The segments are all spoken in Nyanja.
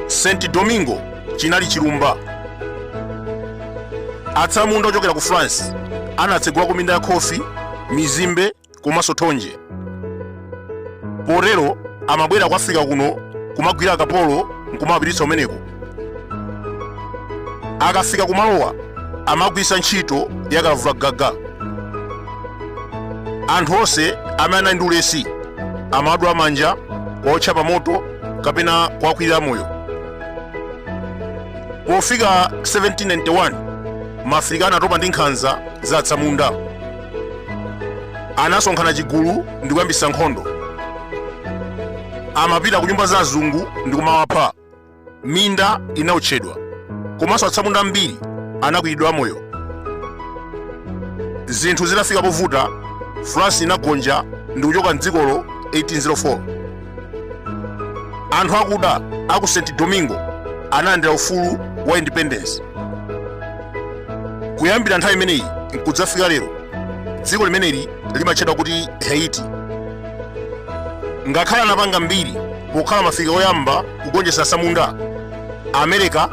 st domingo chinali chilumba atsamunda ochokera ku france anatsegulako minda ya khofi mizimbe komanso thonje potero amabwera ku afirika kuno kumagwira akapolo nkumawapititsa kumeneko akafika kumalowa amagwiritsa ntchito yakalavula gaga anthu onse amene anali ndi ulesi amawadula manja kuwawotcha pa moto kapena kuwakwirira moyo pofika 1791 maafirika anatopa ndi nkhanza za atsamunda anasonkhana chigulu ndi kuyambisa nkhondo amapita ku nyumba za azungu ndi kumawapha minda inaotchedwa komanso atsamunda ambiri anakwiriridwa moyo zinthu zinafika povuta france inagonja ndi kuchoka mdzikolo 1804 anthu akuda aku st domingo analandira ufulu wa independence kuyambira nthawi imeneyi nkudzafika lero dziko limeneli limatchedwa kuti haiti ngakhale anapanga mbiri pokhala maafirika oyamba kugonjetsa atsamunda america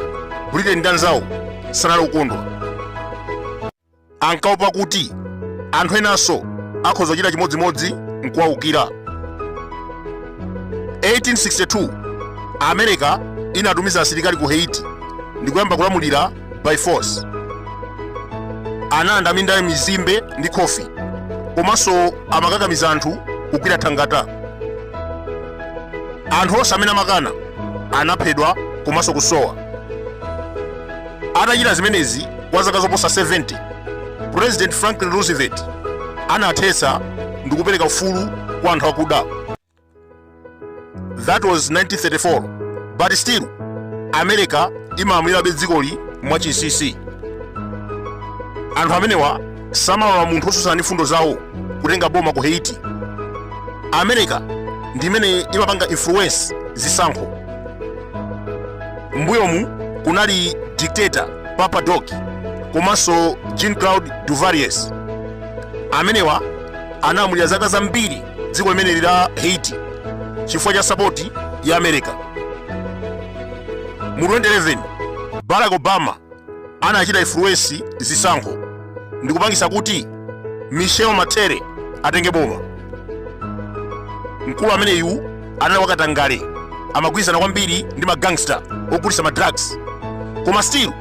britain ndi anzawo sanali kukondwa ankaopa kuti anthu enanso akhoza kuchita chimodzimodzi nkuwaukira. 1862 america inatumiza asilikali ku haiti ndi kuyamba kulamulira by force analanda minda ya mizimbe ndi khofi komanso amakakamiza anthu kugwira thangata anthu onse amene amakana anaphedwa komanso kusowa Atachita zimenezi kwa zaka zoposa 70, pulezidenti Franklin Roosevelt anathetsa ndi kupereka ufulu kwa anthu akuda. That was 1934, but still America imalamulirabe dzikoli mwachinsinsi. Anthu amenewa samalola munthu wotsutsana ndi fundo zawo kutenga boma ku Haiti. America ndi imene imapanga influence zisankho. mbuyomu kunali dictator papa doc komanso jean claude duvalier amenewa analamulira zaka zambiri dziko limeneli la haiti chifukwa cha sapoti ya america mu 2011 barack obama anachita influence zisankho ndi kupangisa kuti Michel Martelly atenge boma. Mkulu ameneyu anali wakatangale, amagwirizana kwambiri ndi magangster ogulitsa ma drugs, koma still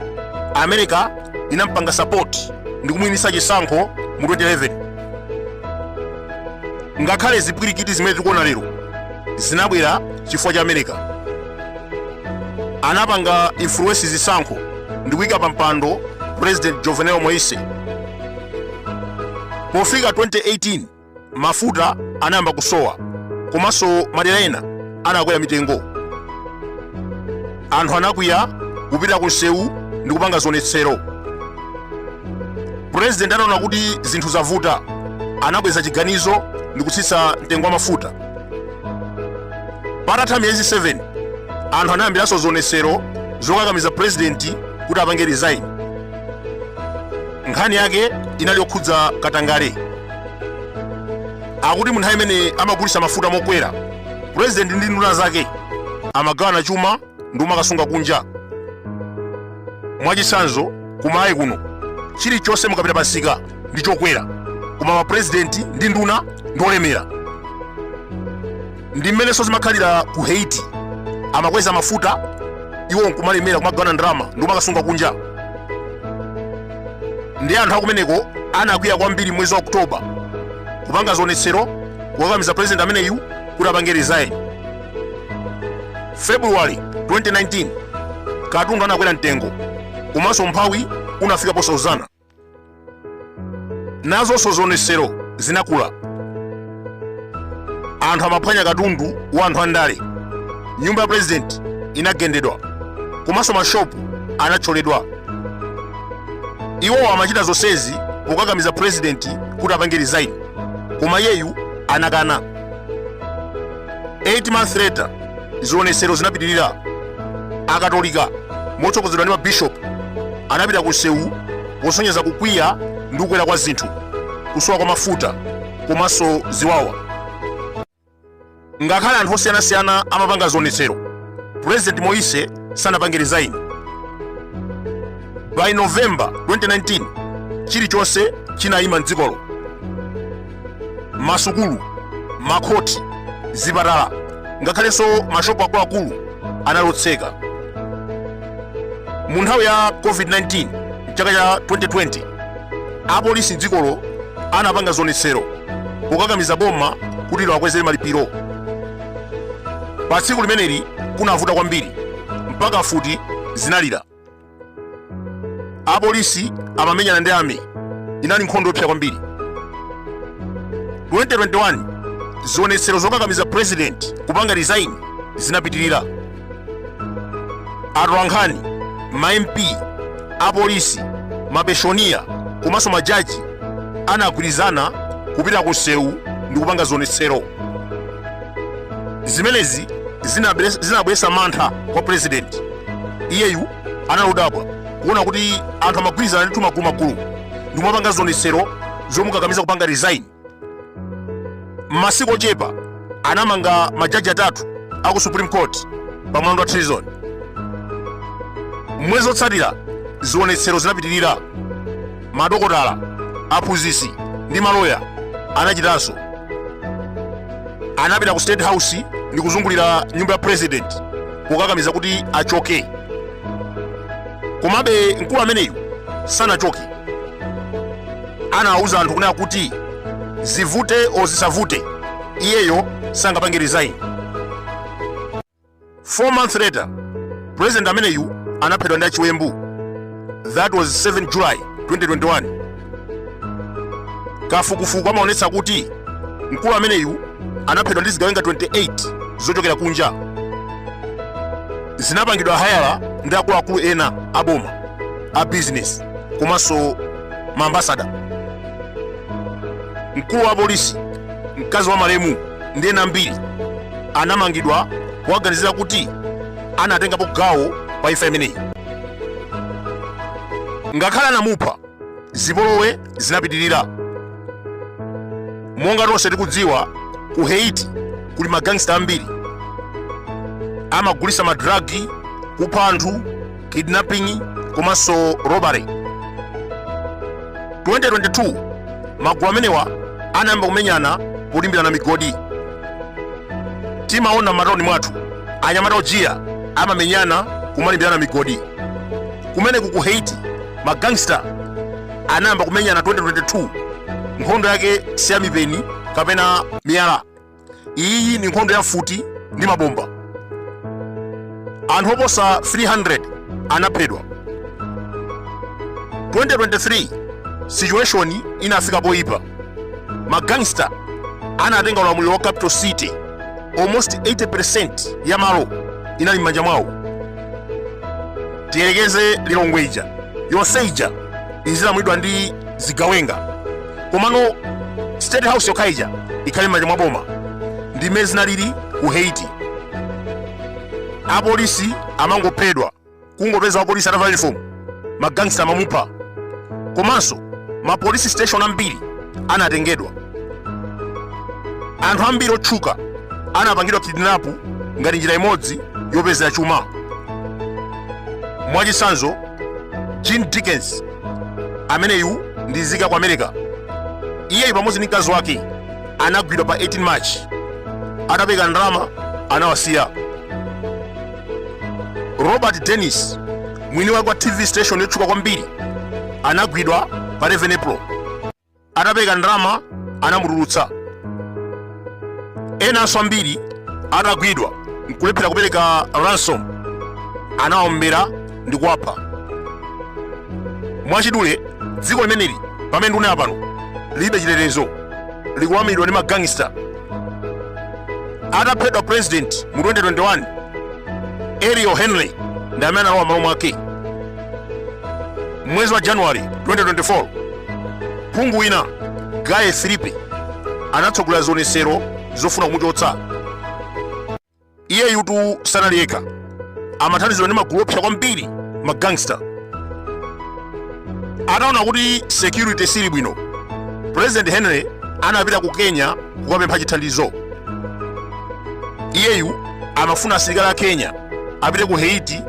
America inampanga support ndi kumuwinitsa chisankho mu 2011 ngakhale zipwirikiti zimene tikuona lero zinabwera chifukwa cha america anapanga influence zisankho ndi kuyika pa mpando president jovenel moise pofika 2018 mafuta anayamba kusowa komanso madera ena anakwera mitengo anthu anakwiya kupita ku msewu ndi kupanga zionetsero president anaona kuti zinthu zavuta anabweza chiganizo ndi kutsitsa mtengo wa mafuta patatha miyezi 7 anthu anayambiranso zionetsero zokakamiza purezidenti kuti apange resign nkhani yake inali yokhudza katangale akuti mu nthawi imene amagulitsa mafuta mokwera purezidenti ndi nduna zake amagawana chuma ndi kumakasunga kunja mwachitsanzo ku malawi kuno chilichonse mukapita pamsika ndi chokwera koma mapurezidenti ndi nduna ndi olemera ndi mmenenso zimakhalira ku haiti amakweza mafuta iwo nkumalemera kumagawana ndalama ndi kumakasunga kunja nde anthu akumeneko anakwiya kwambiri mwezi wa oktoba kupanga zionetsero kukakamiza purezidenti ameneyu kuti apange resign february 2019 katundu anakwera mtengo komanso umphawi unafika posauzana nazonso zionetsero zinakula anthu amaphwanya katundu wa anthu andale nyumba ya purezidenti inagendedwa komanso mashopu anathyoledwa iwowo amachita zonsezi pokakamiza purezidenti kuti apange resign koma iyeyu anakana 8 months later zionetsero zinapitirira akatolika motsogozedwa ndi mabishop anapita ku nsewu posonyeza kukwiya ndi kukwera kwa zinthu kusowa kwa mafuta komanso ziwawa ngakhale anthu osiyanasiyana amapanga zionetsero president moise sanapange resign by november 2019 chilichonse chinayima mdzikolo masukulu makhoti zipatala ngakhalenso mashopu akuluakulu anali otseka mu nthawi ya covid-19 mchaka cha 2020 apolisi mdzikolo anapanga zionetsero pokakamiza boma kuti liwakwezere malipiro pa tsiku limeneli kunavuta kwambiri mpaka mfuti zinalira apolisi amamenyana ndi ami inali nkhondo yopsa kwambiri 2021 zionetsero zokakamiza president kupanga resign zinapitirira atolankhani ma mp apolisi mapeshoniya komanso majaji anagwirizana kupita ku sewu ndi kupanga zionetsero zimenezi zinabweretsa mantha kwa president iyeyu anali odabwa kuona kuti anthu amagwirizana ndithu magulumagulu ndikumapanga zionetsero zomukakamiza kupanga resign m'masiku ochepa anamanga majaji atatu a ku supreme court pa mlandu wa treason mwezi otsatira zionetsero zinapitirira madokotala, aphunzitsi, ndi maloya anachitanso. Anapita ku State House ndi kuzungulira nyumba ya president kukakamiza kuti achoke. Komabe mkulu ameneyu sanachoke. Anawauza anthu kunena kuti zivute or zisavute iyeyo sangapange resign. 4 months later president ameneyu anaphedwa ndi achiwembu that was 7 july 2021 kafukufuku amaonetsa kuti mkulu ameneyu anaphedwa ndi zigawenga 28 zochokera kunja zinapangidwa hayala ndi akuluakulu ena aboma a bizinesi komanso maambasada mkulu wa polisi mkazi wa malemu ndi ena ambiri anamangidwa kuwaganizira kuti anatengapo gawo pa imfa imeneyi ngakhale anamupha zipolowe zinapitirira monga tonse tikudziwa ku haiti kuli magangsta ambiri amagulisa madragi kupha anthu kidnapping komanso robbery 2022 magulu amenewa anayamba kumenyana polimbirana migodi timaona m'matauni mwathu anyamata ojiya amamenyana kumalimbirana migodi kumeneku ku haiti magangsta anayamba kumenyana 2022 nkhondo yake siyamipeni kapena miyala iyi ndi nkhondo ya mfuti ndi mabomba anthu oposa 300 anaphedwa 2023 situation inafika poyipa magangster anatenga ulamuliro wa capital city almost 80% ya malo inali m'manja mwawo tiyerekeze lilongwe ija yonse ija izilamulidwa ndi zigawenga komano state house yokha ija ikali m'manja mwa boma ndi mmene zinalili ku haiti apolisi amangophedwa kungopeza apolisi atavala uniform magangsta amamupha komanso mapolisi station ambiri anatengedwa anthu ambiri otchuka anapangidwa kidnap ngati njira imodzi yopezera chuma mwachitsanzo jean dickens ameneyu ndi nzika ya ku america iyeyu pamodzi ndi mkazi wake anagwidwa pa 18 march atapereka ndalama anawasiya robert dennis mwini wake wa tv station yotchuka kwambiri anagwidwa pa 11 april atapereka ndalama anamutulutsa enanso ambiri atagwidwa nkulephera kupereka ransom anawaombera ndi kuwapha mwachidule dziko limeneli pamene ndikunena pano lilibe chitetezo likulamulidwa ndi magangster ataphedwa president mu 2021 ariel henry ndi amene analowa malo mwake Mwezi wa January 2024 phungu wina Guy Philippe anatsogolera zionetsero zofuna kumuchotsa iyeyutu sanali yekha amathandizidwa ndi magulu oopsa kwambiri magangster ataona kuti security sili bwino president henry anapita ku kenya kukapempha chithandizo iyeyu amafuna asilikali a kenya apite ku haiti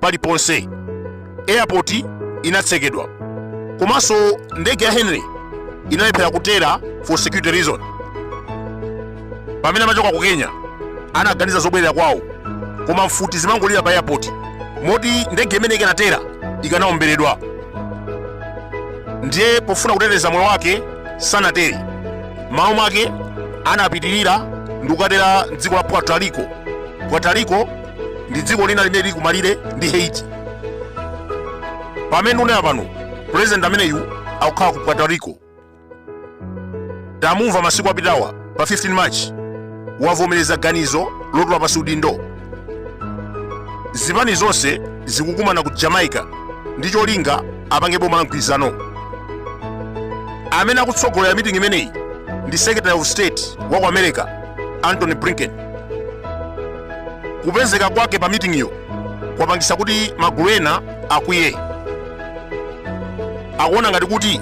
paliponse airport inatsekedwa komanso ndege ya henry inalephera kutera for security reason pamene amachoka ku kenya anaganiza zobwerera kwawo koma mfuti zimangolira pa airport moti ndege imene ikanatera ikanaomberedwa ndiye pofuna kuteteza moyo wake sanatere malo mwake anapitirira ndikukatera m'dziko la puerto rico puerto rico ndi dziko lina limene lili kumalire ndi haiti pamene ndikunena pano purezidenti ameneyu akukhala ku puerto rico tamumva masiku apitawa pa 15 march wavomereza ganizo lotula pansi udindo zipani zonse zikukumana ku jamaica ndi cholinga apange boma la mgwirizano amene akutsogolera mitingi imeneyi ndi secretary of state wa ku america antony blinken kupezeka kwake pa mitingiyo kwapangisa kuti magulu ena akwiye akuona ngati kuti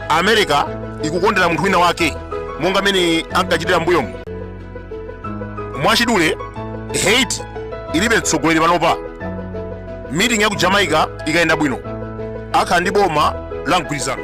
america ikukondera munthu wina wake monga mmene ankachitira mbuyomu mwachidule haiti ilibe mtsogoleri panopa mitingi ya ku jamaica ikayenda bwino akhala ndi boma la mgwirizano